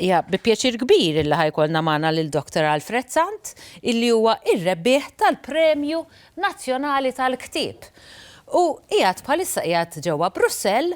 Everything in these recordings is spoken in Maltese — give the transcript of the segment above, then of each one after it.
Ja, bi pjaċir kbir illi ħajkolna magħna lil Dr. Alfred Sant, illi huwa ir-rebbieħ tal-Premju Nazzjonali tal-Ktieb. U qiegħed bħalissa qiegħed ġewwa Brussell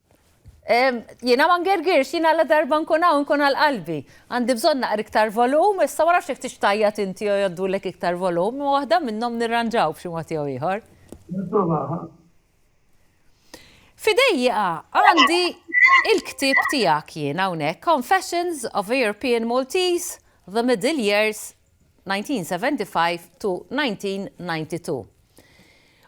Jiena ma ngergirx, jiena la darba nkun hawn nkun għal qalbi. Għandi bżonn naqra iktar volum, issa ma nafx jekk tix tgħajjat inti jew jgħoddulek iktar volum, imma waħda minnhom nirranġaw b'xi mod jew ieħor. Nipprovaha. F'idejja għandi il-ktieb tiegħek jien hawnhekk, Confessions of a European Maltese, The Middle Years 1975–1992.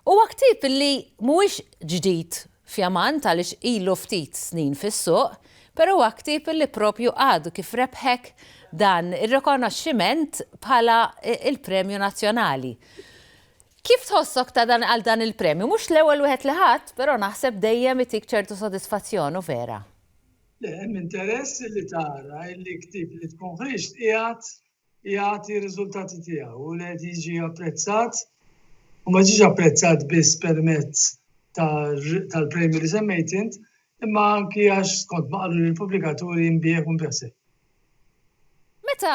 Huwa ktieb li mhuwiex ġdid fjamant għaliex ilu ftit snin fis-suq, però huwa ktieb li proprju għadu kif rebħek dan ir-rikonoxximent bħala l-Premju Nazzjonali. Kif tħossok ta' dan għal dan il-premju? Mhux l-ewwel wieħed li ħadt, però naħseb dejjem itik ċertu sodisfazzjon, u vera. Le, hemm interess li tara li ktieb li tkun ħriġt qiegħed jagħti r-riżultati tiegħu u li qed jiġi apprezzat u ma ġiex apprezzat biss permezz tal-premju li semmejt int, imma anki għax skont ma qaluli l-pubblikaturi nbigħ u nbigħ sew. Meta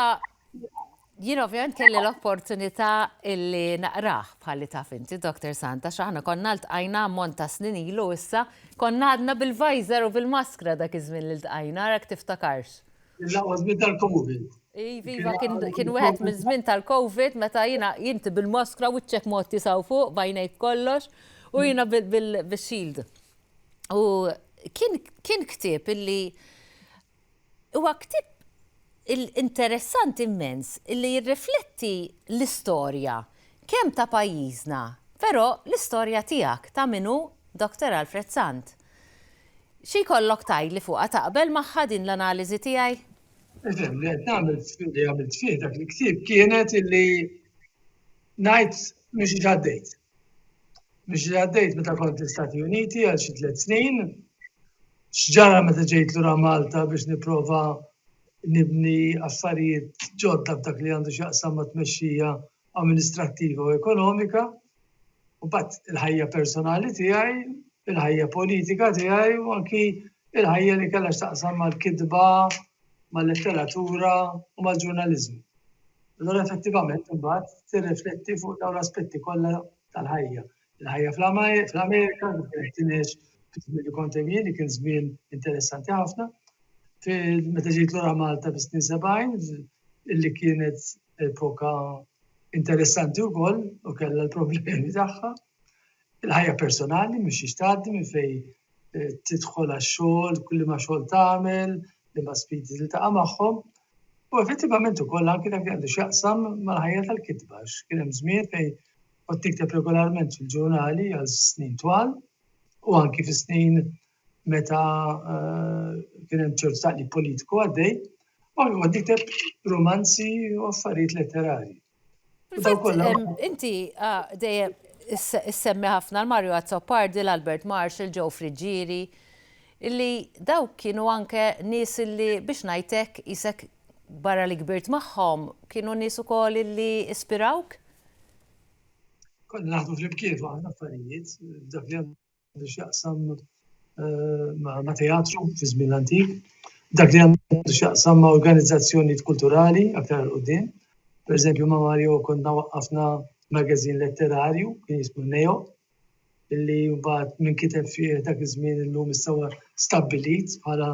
jien ovvjament kelli l-opportunità illi naqrah bħalli taf inti, Dr. Santa, x'aħna konna ltqajna ammont ta' snin ilu issa, konna għadna bil-visor u bil-maskra dak iż-żmien li ltqajna, arak tiftakarx. L-aqwa żmien tal-Covid. Iva, iva kien wieħed miż-żmien tal-Covid meta jiena jinti bil-maskra u ċek mod tisaw fuq bajnejk kollox u jiena bil-shield. U kien ktieb illi huwa ktieb interessanti immens illi jirrifletti l-istorja kemm ta' pajjiżna, però l-istorja tiegħek ta' min hu Dr. Alfred Sant. Xi jkollok tgħidli fuqha taqbel magħha din l-analiżi tiegħi? Eżem, li qed nagħmel li għamilt fih dak il-ktieb kienet illi ngħid minn xi ġaddejt. Minn xi ġaddejt meta kont l-Istati Uniti għal xi tliet snin, x'ġara meta ġejt lura Malta biex nipprova nibni affarijiet ġodda f'dak li għandu x'jaqsam ma' tmexxija amministrattiva u ekonomika, u bat il-ħajja personali tiegħi, il-ħajja politika tiegħi u anki il-ħajja li kellha x'taqsam mal-kitba, mal-letteratura u mal-ġurnaliżmu. Allora effettivament imbagħad tirrifletti fuq dawn l-aspetti kollha tal-ħajja. Il-ħajja fl-Amerika, fil-ħtieġ fil-żmien li kont hemm jien, kien żmien interessanti ħafna. Meta ġejt lura Malta fis-snin 70, illi kienet epoka interessanti wkoll u kellha l-problemi tagħha. Il-ħajja personali mhux jixtaddi minn fej eh, tidħol għax-xogħol, kulli ma xogħol tagħmel, li ma sfidi li taqa' magħhom. U effettivament ukoll anke dak għandu x'jaqsam mal-ħajja tal-kitba, kien hemm żmien fejn kont tikteb regolarment fil-ġurnali għal snin twal u anki fi snin meta eh, kien hemm ċertu taqli politiku għaddej, u kont tikteb romanzi u affarijiet letterari. Inti ah, dejjem issemmi ħafna l-Mario Azzopardi, l-Albert Marshall, Joe Friggieri, illi dawk kienu anke nies illi biex najtek isek barra li kbirt magħhom kienu nies ukoll illi ispirawk? Konna naħdu fl-imkien fuq affarijiet, dak li għandu xaqsam eh, ma' teatru fi żmien antik, dak li għandu xaqsam ma' organizzazzjoni kulturali aktar l-qudiem. Per eżempju, ma' Mario konna waqqafna magazin letterarju, kien jismu Neo, li mbagħad min kiteb fih dak iż-żmien illum issa huwa stabbilit bħala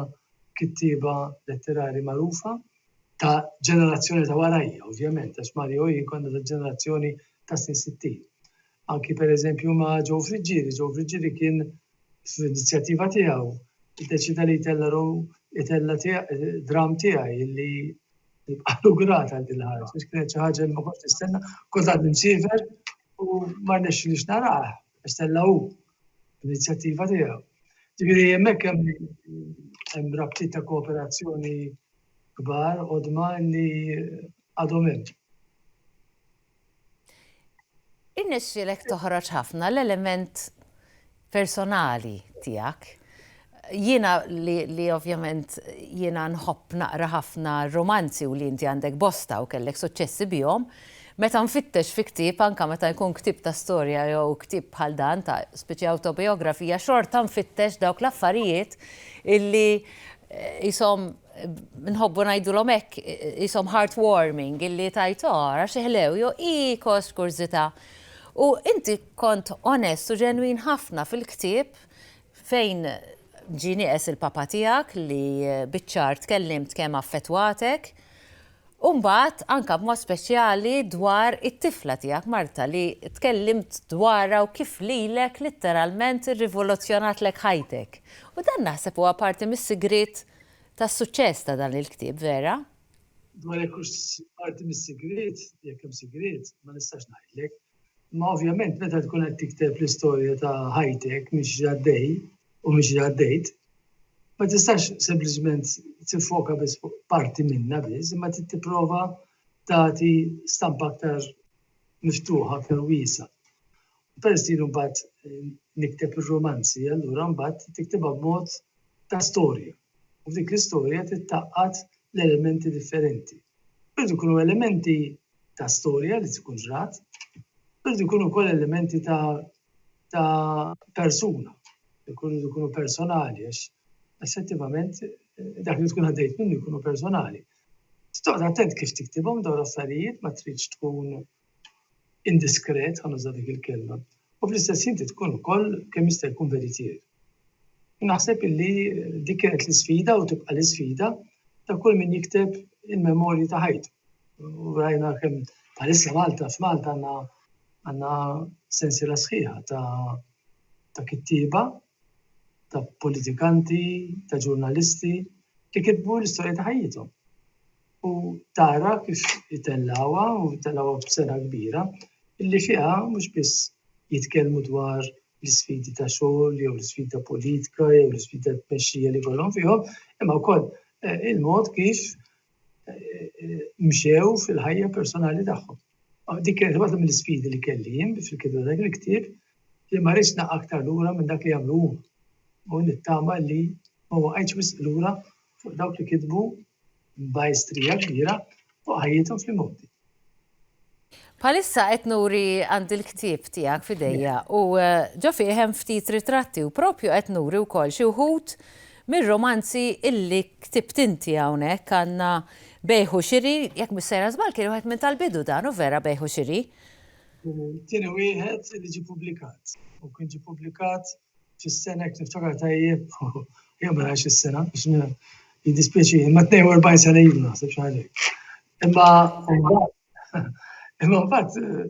kittieba letterari magħrufa ta' ġenerazzjoni ta' warajja, ovvjament, għax Mario jien konna ta' ġenerazzjoni ta' snin 60. Anki per eżempju ma' Joe Friggieri, Joe Friggieri kien f'inizjattiva tiegħu deċida li jtella rom jtella dram tiegħi li Għadu grat għal din ħarġ, biex kienet xi ħaġa li ma kontx nistenna, kont għad nimsiever u ma rnexxilix narah, għax tella' hu l-inizjattiva tiegħu. Ġifieri hemmhekk hemm rabtiet ta' kooperazzjoni kbar qodma li għadhom hemm. Irnexxielek toħroġ ħafna l-element personali tiegħek. Jiena li li ovvjament jiena nħobb naqra ħafna r-rumanzi u li inti għandek bosta u kellek suċċessi bihom, meta nfittex fi ktieb anke meta jkun ktieb ta' storja jew ktieb bħal dan ta' spiċi awtobijografija xorta nfittex dawk l-affarijiet illi qishom nħobbu ngħidulhom hekk ishom heartwarming illi tajt ara xi ħlew jo hi kost kurżità. U inti kont onest u ġenwin ħafna fil-ktieb fejn ġie nieqes il-papa tiegħek li biċ-ċar tkellimt kemm affettwatek U mbagħad anke b'mod speċjali dwar it-tifla tiegħek Marta li tkellimt dwarha u kif lilek litteralment irrivoluzzjonatlek ħajtek. U dan naħseb huwa parti mis-sigriet tas-suċċess ta' dan il-ktieb vera. Dwar jekk hux parti mis-sigriet, jekk hemm sigriet, ma nistax ngħidlek. Imma ovvjament meta tkun qed tikteb l-istorja ta' ħajtek mhix għaddej u mhix għaddejt, ma tistax sempliċement tiffoka biss fuq parti minna biss, imma trid tipprova tagħti stampa aktar miftuħa, aktar wiesa. Peress li jien mbagħad nikteb ir-rumanzi, allura mbagħad tiktibha b'mod ta' storja. U f'dik l-istorja trid tgħaqqad l-elementi differenti. Iridu jkunu elementi ta' storja li tkun ġrat, u jridu jkunu wkoll elementi ta' ta' persuna, jkunu jkunu personali għax effettivament dak li tkun għaddejt minnu jkunu personali. Trid toqgħod attent kif tiktibhom dawn l-affarijiet, ma tridx tkun indiskret, ħa nuża dik il-kelma, u fl-istess ħin tkun ukoll kemm jista' jkun veritier. Naħseb illi dik kienet l-isfida u tibqa' l-isfida ta' kull min jikteb il-memorji ta' ħajtu. U rajna kemm bħalissa Malta f'Malta għandna għandna sensiela sħiħa ta' ta' kittieba ta' politikanti, ta' ġurnalisti li kitbu l-istorja ta' ħajjithom. U tara kif itellgħuha u tellgħuha b'sera kbira illi fiha mhux biss jitkellmu dwar l-isfidi ta' xogħol jew l-isfidi ta' politika jew l-isfidi ta' tmexxija li jkollhom fihom, imma wkoll eh, il-mod kif mxew fil-ħajja personali tagħhom. Dik kienet waħda mill-isfidi li kelli jien fil-kitba dak il-ktieb li ma rridx naqa' aktar lura minn dak li jagħmlu huma. U nittama li ma waqajtx wisq lura fuq dawk li kitbu b'majstrija kbira fuq ħajjithom fl-imgħoddi. Bħalissa qed nuri għandi l-ktieb tiegħek f'idejja u ġo fih hemm ftit ritratti u propju qed nuri wkoll xi wħud mir-romanzi illi ktibt inti hawnhekk għandna Bejgħ u Xiri, jekk mhux sejra żball kien wieħed minn tal-bidu dan u vera Bejgħ u Xiri? Kien it-tieni wieħed li ġie pubblikat u kien ġie pubblikat Fis-sena jekk niftakar tajjeb, jew ma nafx is-sena, biex jiddispjaċi, imma 42 sena ilu naħseb xi ħaġa. Imma imma mbagħad eh,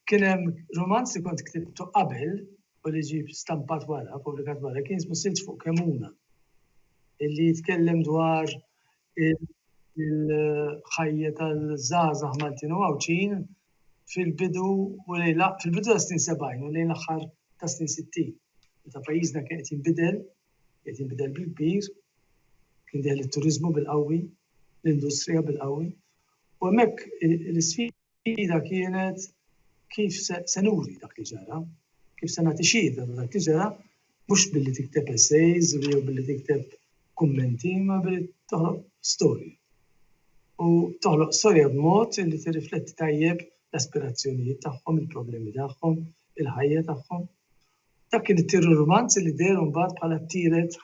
kien hemm romanz li kont ktibtu qabel u li ġib stampat wara, pubblikat wara, kien jismu Silġ fuq Kemuna, illi jitkellem dwar il-ħajja tal-żgħażagħ Maltin u Għawdxin fil-bidu u lejn fil-bidu ta' snin 70 u lejn l-aħħar ta' snin 60. Meta pajjiżna kien qed jinbidel, qed jinbidel bil-kbir, kien deħel it-turiżmu bil-qawwi, l-industrija bil-qawwi. U hemmhekk l-isfida Ida kienet kif se nuri dak li ġara, kif se nagħti xhieda ta' dak li ġara, mhux billi tikteb essays jew billi tikteb kummenti, ma billi toħloq storja. U toħloq storja b'mod li tirrifletti tajjeb l-aspirazzjonijiet tagħhom, il-problemi tagħhom, il-ħajja tagħhom. Dak kien it-tieru rumanz li deher mbagħad bħala t-tielet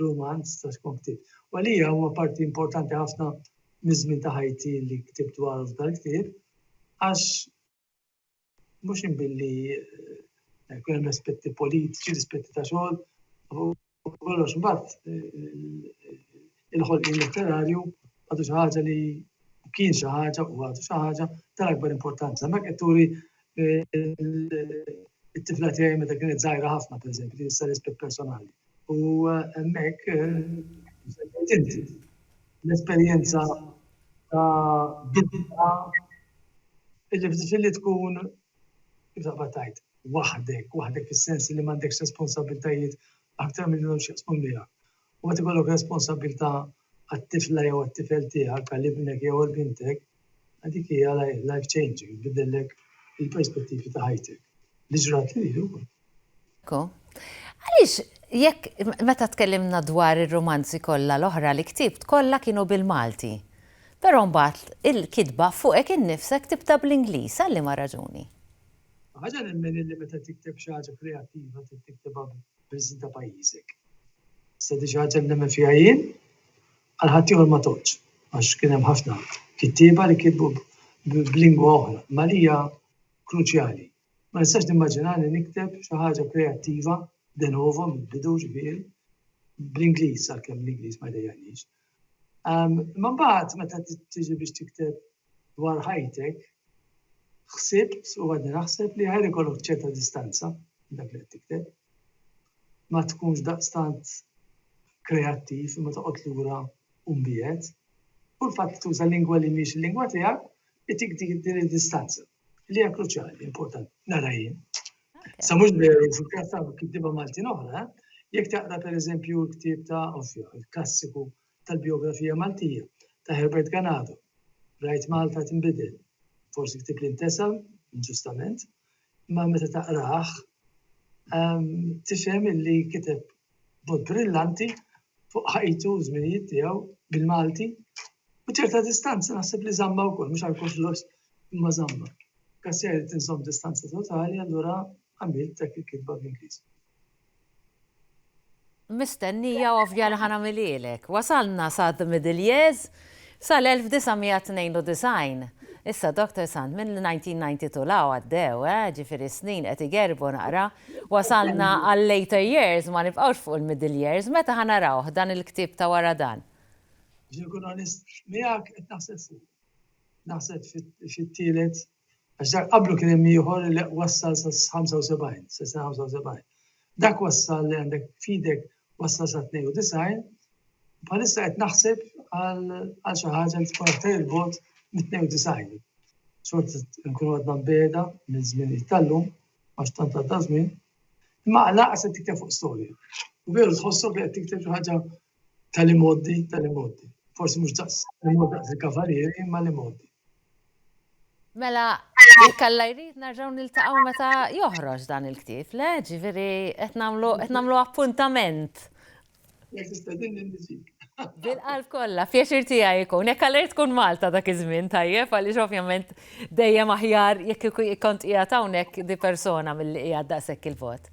rumanz ta' Skont Ktibt. U għalija huwa parti importanti ħafna miż-żmien ta' ħajti li ktibt dwaru f'dal-ktieb għax mhux inbilli jkun hemm l-aspetti politiċi, l-aspetti ta' xogħol, U kollox mbagħad il-ħolqien letterarju għadu xi ħaġa li kien xi ħaġa u għadu xi ħaġa tal-akbar importanza. Hemmhekk qed turi it-tifla tiegħi meta kienet żgħira ħafna pereżempju li issa rispett personali. U hemmhekk inti l-esperjenza ta' bidla illi f'difilli tkun Kif taqbad tgħid waħdek, waħdek fis-sens li m'għandekx responsabbiltajiet aktar milli għandhom x'jaqsmu miegħek. U meta jkollok responsabbiltà għat-tifla jew għat-tifel tiegħek, għal ibnek jew għal bintek, dik hija life changing, tbiddellek il-perspettivi ta' ħajtek. Li ġrat lili wkoll. Kiko, għaliex jekk meta tkellimna dwar ir-rumanzi kollha l-oħra li ktibt kollha kienu bil-Malti, però mbagħad il-kitba fuqek innifsek tibda bl-Ingliż, għal liema raġuni? Ħaġa nemmen illi meta tikteb xi ħaġa kreattiva trid tiktibha bl-isem ta' pajjiżek. Issa di xi ħaġa li nemmen fiha jien, għal ħaddieħor ma tgħoddx, għax kien hemm ħafna kittieba li kitbu b'lingwa oħra, imma għalija kruċjali Ma nistax nimmaġinani nikteb xi ħaġa kreattiva de novo mill-bidu ġifieri, bl-Ingliż għalkemm l-Ingliż ma jdejjaqnix. Imma mbagħad meta tiġi biex tikteb dwar ħajtek, ħsibt u għadni naħseb li ħajr ikollok ċerta distanza minn dak li qed tikteb. Ma tkunx daqstant kreattiv imma toqgħod lura u mbiegħed. U l-fatt li tuża lingwa li mhix il-lingwa tiegħek itik din id-distanza. Li hija kruċjali, importanti, nara jien. Sa mhux veru fil-każ ta' kittiba Maltin oħra, jekk taqra pereżempju l-ktieb ta' Offio, il-klassiku tal-bijografija Maltija ta' Herbert Ganado, Rajt Malta tinbidel, forsi ktieb li ntesa, inġustament, imma meta taqrah ehm, tifhem illi kiteb b'mod brillanti fuq ħajtu u żminijiet tiegħu bil-Malti u ċerta distanza naħseb li żamma wkoll mhux għal kollox imma żamma. Gassier irid inżomm distanza totali allura għamilt dak il-kitba bl-Ingliż. Mistennija ovvja li ħa nagħmilhielek. Wasalna sa The Middle Years, sal-1992. Issa Doctor Sant, minn 1992 'l hawn għaddew, eh, ġifieri s-snin qed igerrbu naqra. Wasalna għal later years, ma nibqgħux fuq il-middle years, meta ħa narawh dan il-ktieb ta' wara dan? Biex inkun onest miegħek qed naħseb fuqu. Naħseb fit-tielet għax dak qablu kien hemm ieħor li wassal sa 75, sa 75. Dak wassal li għandek fidek wassal sa 92, bħalissa qed naħseb għal xi ħaġa li tkun aktar il-bot mit-92. Xort nkunu għadna beda minn żmien tal-lum, għax tant għadda żmien, imma għalaqas qed tikteb fuq storja. U veru tħossok li qed tikteb xi ħaġa tal-imoddi, tal-imoddi. Forsi mhux daqs imoddi daqs il-kavalieri, imma l-imoddi. Mela, jekk alla jrid narġgħu niltaqgħu meta joħroġ dan il-ktieb, le? Ġifieri qed nagħmlu appuntament Bil-qalb kollha, pjaċir tiegħi jkun. Jekk għalert tkun Malta dak iż-żmien tajjeb, għaliex ovvjament dejjem aħjar jekk kont qiegħed hawnhekk di persona milli qiegħed daqshekk il-vot.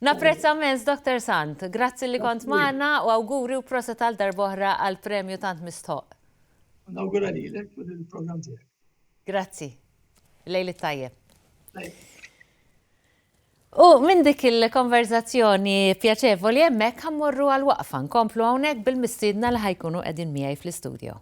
Napprezza mens, Dr. Sant, grazzi li kont magħna u awguri u proset għal darboħra għal premju tant mistħoq. Nawgura lilek u lill-programm tiegħek. Grazzi. Lejl it-tajjeb. U minn dik il-konverżazzjoni pjaċevoli hemmhekk ħa mmorru għal waqfa nkomplu hawnhekk bil-mistiedna li ħa jkunu qegħdin miegħi fl-istudio.